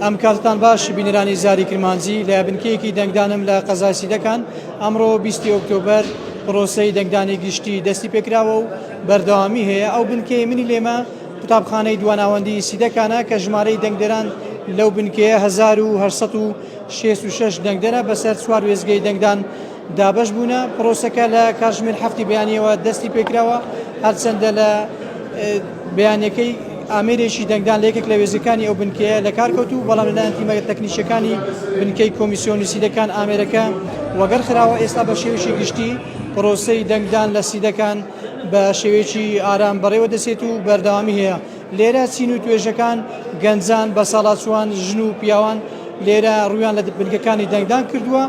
ئەم کاتتان باش بینەرانی زاری کرمانجی لە بنکەیەکی دەنگدانم لە قەزای سیدەکان ئەمڕۆ 20 ئۆکتۆبەر پرۆسەی دەنگدانی گشتی دەستی پێکراوە و بەردەوامی هەیە ئەو بنکەی منی لێمە قوتابخانەی دواناوەندی سیدەکانە کە ژمارەی دەنگدەران لەو بنکەیە 1966 دەنگدەرە بەسەر چوار وێزگەی دەنگدان دابەش بوونە، پرۆسەکە لە کاتژمێر هەفتی بەیانیەوە دەستی پێکراوە، هەرچەندە لە بەیانیەکەی ئامێرێکی دەنگدان لە یەکێک لە وێزگەکانی ئەو بنکەیە لە کار کەوتوو، بەڵام لەلایەن تیمە تەکنیکیەکانی بنکەی کۆمیسیۆنی سیدەکان ئامێرەکە وەگەڕ خراوە، ئێستا بە شێوەیەکی گشتی پرۆسەی دەنگدان لە سیدەکان بە شێوەیەکی ئارام بەڕێوە دەچێت و بەردەوامی هەیە. لێرە چین و توێژەکان گەنجان، بەساڵاچووان، ژن و پیاوان لێرە ڕوویان لە بنکەکانی دەنگدان کردووە،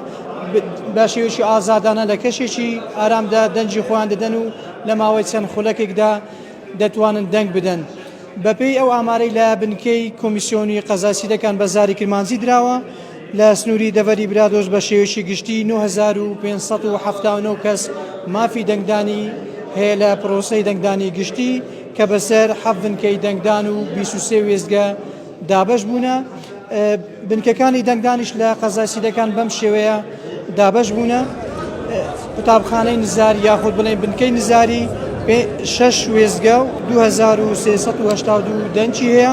بە شێوەیەکی ئازادانە لە کەشێکی ئارامدا دەنگی خۆیان دەدەن و لە ماوەی چەند خولەکێکدا دەتوانن دەنگ بدەن. بەپێی ئەو ئامارەی لە بنکەی کۆمیسیۆنی قەزای سیدەکان بە زاری کرمانجی دراوە، لە سنووری دەڤەری برادۆست بە شێوەیەکی گشتی نۆ هەزار و پێنج سەد و حەفتا و نۆ کەس مافی دەنگدانی هەیە لە پرۆسەی دەنگدانی گشتی کە بەسەر حەڤ بنکەی دەنگدان و بیست و سێ وێستگە دابەش بوونە. بنکەکانی دەنگدانیش لە قەزای سیدەکان بەم شێوەیە دابەش بوونە. قوتابخانەی نزار یاخود بڵێن بنکەی نزاری شەش وێستگە و 2382 دەنگی هەیە.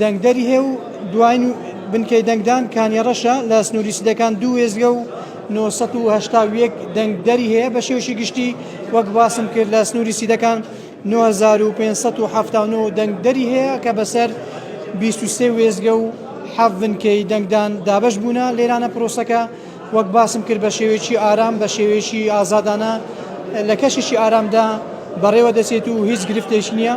دەنگدەری هەیە و دواین بنکەی دەنگدان کانیەڕەشە، لە سنووری سدەکان دوو وێستگە و نۆ سەد و هەشتا و یەک دەنگدەری هەیە، بە شێوەیەکی گشتی وەک باسم کرد لە سنووری سدەکان نۆ هەزار و پێنج سەد و حەفتا و نۆ دەنگدەری هەیە کە بەسەر بیست و سێ وێستگە و حەفت بنکەی دەنگدان دابەش بوونە، لێرانە پرۆسەکە وەک باسم کرد بە شێوەیەکی ئارام، بە شێوەیەکی ئازادانە لە کەشێکی ئارامدا بەڕێوە دەچێت و هیچ گرفتێک نییە.